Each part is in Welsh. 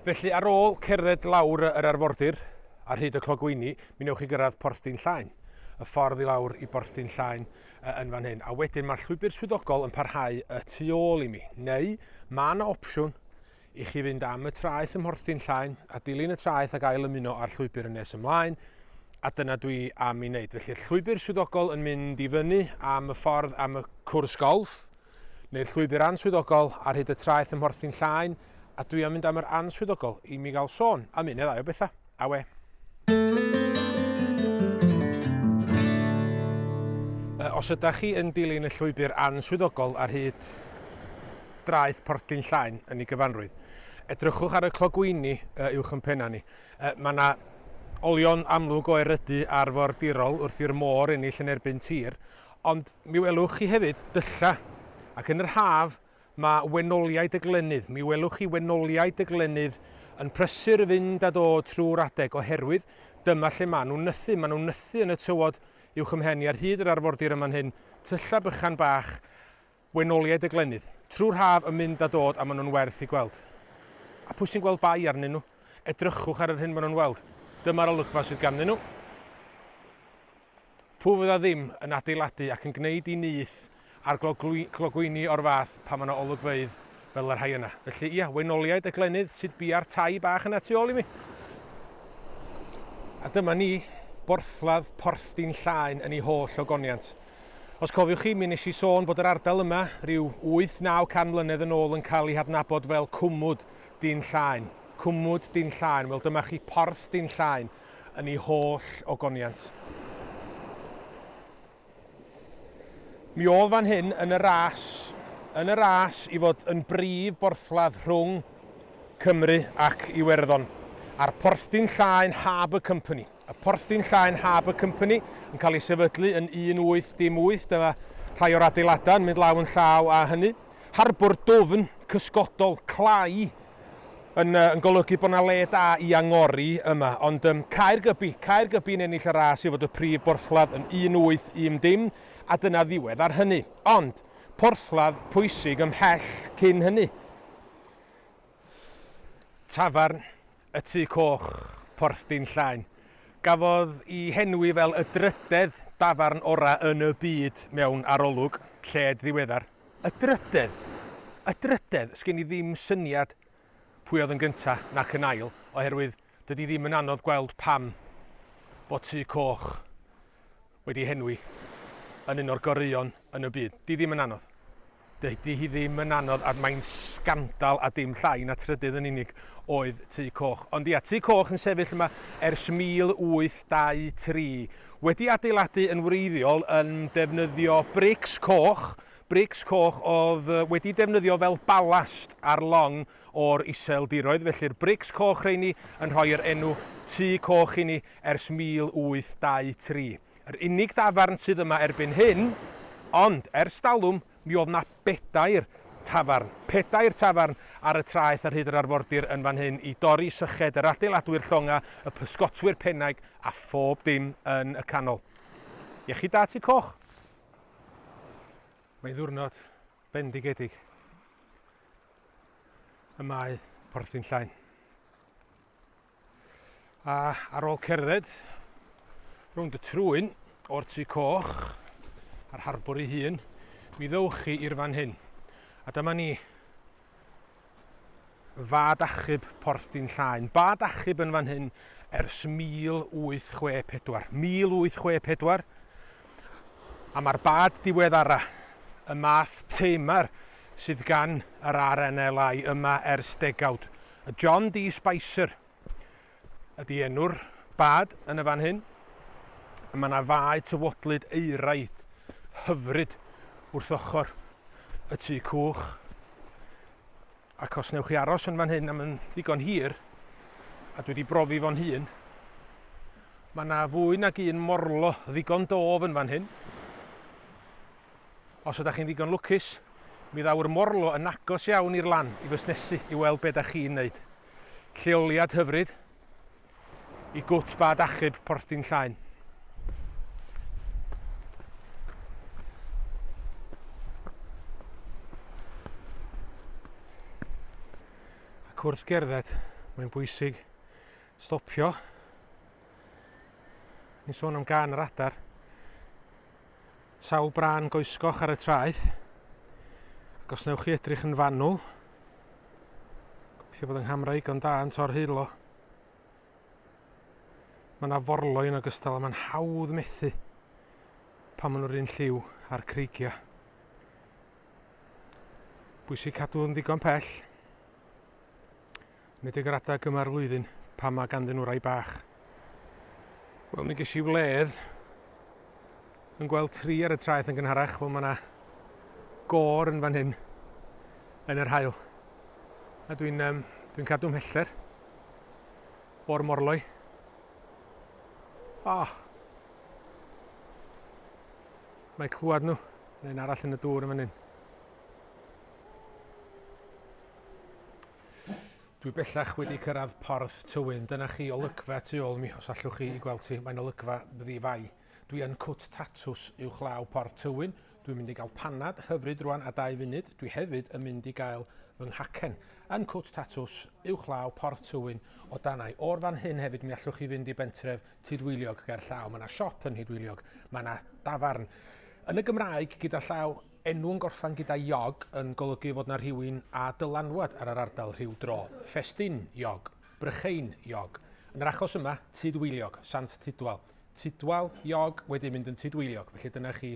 Felly, ar ôl cerdded lawr yr arfordir ar hyd y clogwyni, mi newch chi gyrraedd Porthdin Llaen. Y ffordd i lawr i Borthdin Llaen yy, yn fan hyn, a wedyn mae'r llwybr swyddogol yn parhau y tu ôl i mi. Neu, mae yna opsiwn i chi fynd am y traeth ym Mhorthdin Llaen a dilyn y traeth ac ail ymuno â'r llwybr yn nes ymlaen, a dyna dwi am i wneud. Felly'r llwybr swyddogol yn mynd i fyny am y ffordd am y cwrs golff, neu'r llwybr answyddogol ar hyd y traeth ym Mhorthyn Llaen, a dwi am mynd am yr answyddogol i mi gael sôn am un neu ddau o bethau. Awe! Os ydych chi yn dilyn y llwybr answyddogol ar hyd draeth Porthyn Llaen yn ei gyfanrwydd, edrychwch ar y clogwyni uwch yn penna ni. Mae yna olion amlwg o erydu arfordirol wrth i'r môr ennill yn erbyn tir, Ond mi welwch chi hefyd dylla', ac yn yr haf ma' wenoliaid y glenydd, mi welwch chi wenoliaid y glenydd yn prysur i fynd a dod trwy'r adeg, oherwydd dyma lle ma' nhw'n nythu, ma' nhw'n nythu yn y tywod uwch 'y mhen i ar hyd yr arfordir yn fan hyn, tylla' bychan bach, Wenoliaid y Glenydd. Trwy'r haf yn mynd a dod a maen nhw'n werth eu gweld. A pwy sy'n gweld bai arnyn nhw? Edrychwch ar yr hyn maen nhw'n weld. Dyma'r olygfa sydd ganddyn nhw. Pwy fydda ddim yn adeiladu ac yn gwneud i nyth ar glogwyni o'r fath pan mae yna olygfeydd fel y rhai yna. Felly, ia, Wenoliaid y Glenydd sydd bia'r tai bach yna tu ôl i mi. A dyma ni, borthladd Porthdin Llaen yn ei holl ogoniant. Os cofiwch chi, mi wnes i sôn bod yr ardal yma, ryw wyth, naw can mlynedd yn ôl yn cael ei hadnabod fel Cwmwd Dyn Llaen. Cwmwd Dyn Llaen, wel dyma chi Porth Dyn Llaen yn ei holl ogoniant. Mi oedd fan hyn yn y ras, yn y ras i fod yn brif borthladd rhwng Cymru ac Iwerddon, a'r Porthdyn Llaen Harbour Company. Y porthi'n Llaen Harbour Company yn cael ei sefydlu yn 1808, dyma rhai o'r adeiladau yn mynd law yn llaw â hynny. Harbwr dwfn, cysgodol, clai, yn, uh, yn golygu bod yna le da i angori yma, ond um, Caergybi, Caergybi yn ennill y ras i fod y prif borthladd yn 1810, a dyna ddiwedd ar hynny. Ond, porthladd pwysig ymhell cyn hynny. Tafarn y Tŷ Coch, Porthdin Llain. Gafodd i henwi fel y drydedd dafarn ora yn y byd mewn arolwg lled ddiweddar. Y drydedd? Y drydedd? Sgen i ddim syniad pwy oedd yn gynta nac yn ail, oherwydd Dydy ddim yn anodd gweld pam fod Tŷ Coch wedi henwi yn un o'r goreuon yn y byd. Di ddim yn anodd. Dydy hi ddim yn anodd a mae'n sgandal a dim llai na trydydd yn unig oedd Tŷ Coch. Ond ia, Tŷ Coch yn sefyll yma ers 1823, wedi adeiladu yn wreiddiol yn defnyddio brics coch, brics coch oedd wedi defnyddio fel balast ar long O'r Iseldiroedd, felly'r brics coch rheini yn rhoi yr enw Tŷ Coch i ni ers 1823. Yr unig dafarn sydd yma erbyn hyn, ond ers talwm mi oedd 'na bedair tafarn, pedair tafarn ar y traeth ar hyd yr arfordir yn fan hyn i dorri syched yr adeiladwyr llongau, y pysgotwyr pennaig a phob dim yn y canol. Iechyd da Tŷ Coch! Mae'n ddiwrnod bendigedig. y mae Porthin Llain. A ar ôl cerdded rownd y trwyn o'r tu coch a'r harbwr ei hun, mi ddewch chi i'r fan hyn. A dyma ni fad achub Porthin Llain. Bad achub yn fan hyn ers 1864. 1864 a mae'r bad diweddara, y math teimar sydd gan yr RNLI yma ers degawd. A John Dee Spicer ydy enw'r bad yn y fan hyn. A mae yna fae tywodlyd eiraid hyfryd wrth ochr y tŷ cwch. Ac os newch chi aros yn fan hyn am yn ddigon hir, a dwi wedi brofi fo'n hun, mae yna fwy nag un morlo ddigon dof yn fan hyn. Os ydach chi'n ddigon lwcus, mi ddaw'r morlo yn agos iawn i'r lan i fusnesu i weld be' 'dach chi'n neud. Lleoliad hyfryd i gwt bad achub Porthdin Llain. Ac wrth gerdded, mae'n bwysig stopio. Ni'n sôn am gan yr adar. Sawl brân goesgoch ar y traeth. Ac os newch chi edrych yn fanwl, gobeithio bod yng nghamera igon da yn tor heilo. Mae yna forloi yn ogystal a mae'n hawdd methu pan maen nhw'r un lliw a'r creigiau. Bwysig cadw yn ddigon pell. Nid y graddau gyma'r flwyddyn pan mae ganddyn nhw rai bach. Wel, mi ges i wledd yn gweld tri ar y traeth yn gynharach. Wel, mae yna gor yn fan hyn yn yr hael. A dwi'n um, dwi cadw mheller o'r morloi. Ah! Oh. Mae clywed nhw, neu'n arall yn y dŵr yn fan hyn. Dwi bellach wedi cyrraedd Porth Tywyn. Dyna chi olygfa tu ôl mi, os allwch chi i gweld ti. Mae'n olygfa ddi-fai. Dwi yn cwt tatws uwch law Porth Tywyn. Dwi'n mynd i gael panad hyfryd rwan a dau funud. Dwi hefyd yn mynd i gael fy nghacen. Yn cwt tatws uwch law Porth Tywyn o danau. O'r fan hyn hefyd mi allwch chi fynd i bentref Tudwiliog ger llaw. Mae yna siop yn Nhudwiliog. Mae yna dafarn. Yn y Gymraeg gyda llaw Enw yn gorffan gyda iog yn golygu fod 'na rhywun â dylanwad ar yr ardal rhyw dro, Ffestyn Iog, Brychein Iog, yn yr achos yma, Tudweiliog, Sant Tudwal. Tudwal Iog wedi mynd yn Tudweiliog, felly dyna chi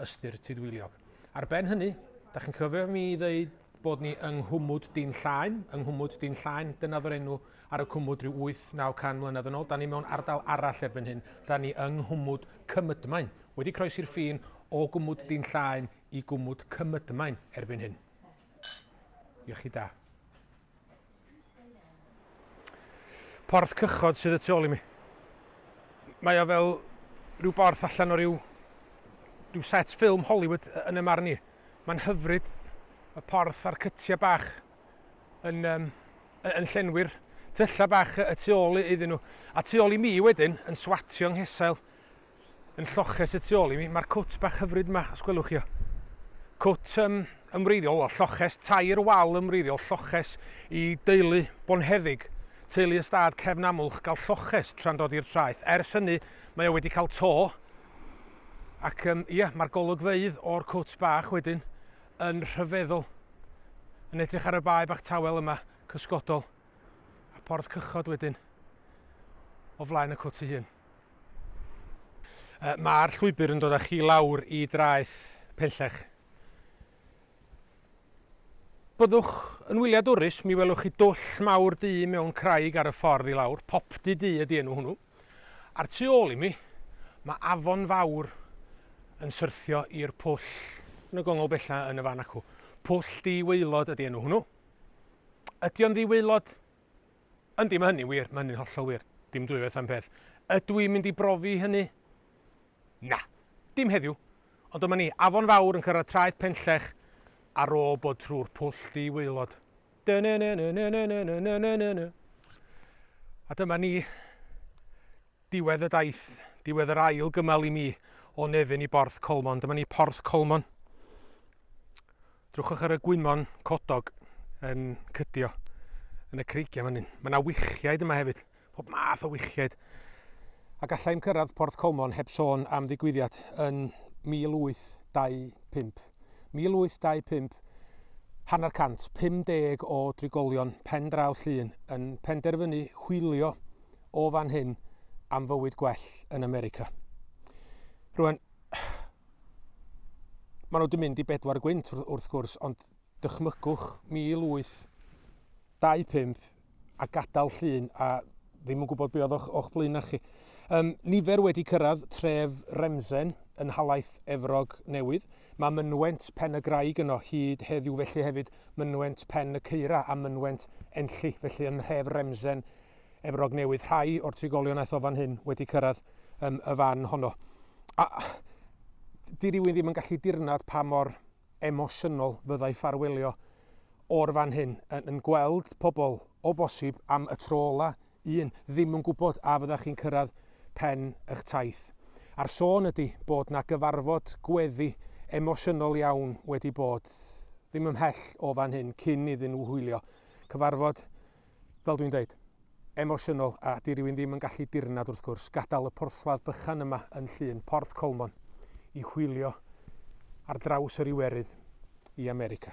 ystyr Tudweiliog. Ar ben hynny, da chi'n cyfio mi i ddeud bod ni yng Nghwmwd Dyn Llaen, yng Nghwmwd Dyn Llaen, dyna oedd yr enw ar y cwmwd rhyw 8-9 can mlynedd yn ôl. Da ni mewn ardal arall erbyn hyn, da ni yng Nghwmwd Cymydmain. Wedi croesi'r ffin o gwmwd dyn llaen i gwmwd cymydmain erbyn hyn. Iechyd da. Porth cychod sydd y tu ôl i mi. Mae o fel rhyw borth allan o ryw, ryw set ffilm Hollywood yn y marn i. Mae'n hyfryd y porth a'r cytiau bach yn, um, yn llenwi'r tyllau bach y tu ôl iddyn nhw. A tu ôl i mi wedyn yn swatio nghesail yn lloches y tu ôl i mi. Mae'r cwt bach hyfryd yma, os gwelwch chi o. Cwt um, ymwreiddiol, o, lloches, tair wal ymwreiddiol, lloches i deulu bonheddig. Teulu ystad cefn amlwch gael lloches tra'n dod i'r traeth. Ers hynny, mae o wedi cael to. Ac um, ia, mae'r golygfeydd o'r cwt bach wedyn yn rhyfeddol. Yn edrych ar y bae bach tawel yma, cysgodol. A porth cychod wedyn o flaen y cwt ei hun. Yy ma'r llwybr yn dod â chi lawr i draeth Penllech. Byddwch yn wyliadwrus, mi welwch chi dwll mawr du mewn craig ar y ffordd i lawr, Popty Du ydi enw hwnnw. A'r tu ôl i mi, mae afon fawr yn syrthio i'r pwll yn y gongl bella yn y fan acw. Pwll Di Waelod ydi enw hwnnw. Ydi o'n ddi-waelod? Yndi, mae hynny'n wir, mae hynny'n hollol wir. Dim dwy waith am peth. Ydw i'n mynd i brofi hynny? Na, dim heddiw. Ond dyma ni, Afon Fawr yn cyrraedd traeth Penllech ar ôl bod trwy'r pwll di-waelod. A dyma ni, Diwedd y daith, diwedd yr ail gymal i mi o Nefyn i Borth Colmon. Dyma ni Porth Colmon. Drwchwch ar y gwymon codog yn cydio yn y creigiau fan hyn. Mae yna wichiaid yma hefyd, pob math o wichiaid. A gallai'm cyrraedd Porth Colmon heb sôn am ddigwyddiad yn 1825. 1825, hanner cant, 50 o drigolion pen draw Llŷn yn penderfynu hwylio o fan hyn am fywyd gwell yn America. Rwan, maen nhw wedi mynd i bedwar gwynt wrth gwrs, ond dychmygwch 1825 a gadael llun a ddim yn gwybod beth oedd o'ch blaen na chi. Um, nifer wedi cyrraedd tref Remsen yn halaeth Efrog Newydd. Mae mynwent pen y graig yno hyd heddiw felly hefyd mynwent pen y ceira a mynwent enlli felly yn nhref Remsen Efrog Newydd. Rhai o'r trigolion aeth o fan hyn wedi cyrraedd um, y fan honno. A, di rywun ddim yn gallu dirnad pa mor emosiynol fyddai ffarwelio o'r fan hyn yn, yn gweld pobl o bosib am y tro ola, un, ddim yn gwybod a fyddach chi'n cyrraedd pen eich taith. A'r sôn ydy bod na gyfarfod gweddi emosiynol iawn wedi bod ddim ymhell o fan hyn cyn iddyn nhw hwylio. Cyfarfod fel dwi'n deud, emosiynol a 'di rywun ddim yn gallu dirnad wrth gwrs gadael y porthladd bychan yma yn Llŷn, Porth Colmon, i hwylio ar draws yr Iwerydd i America.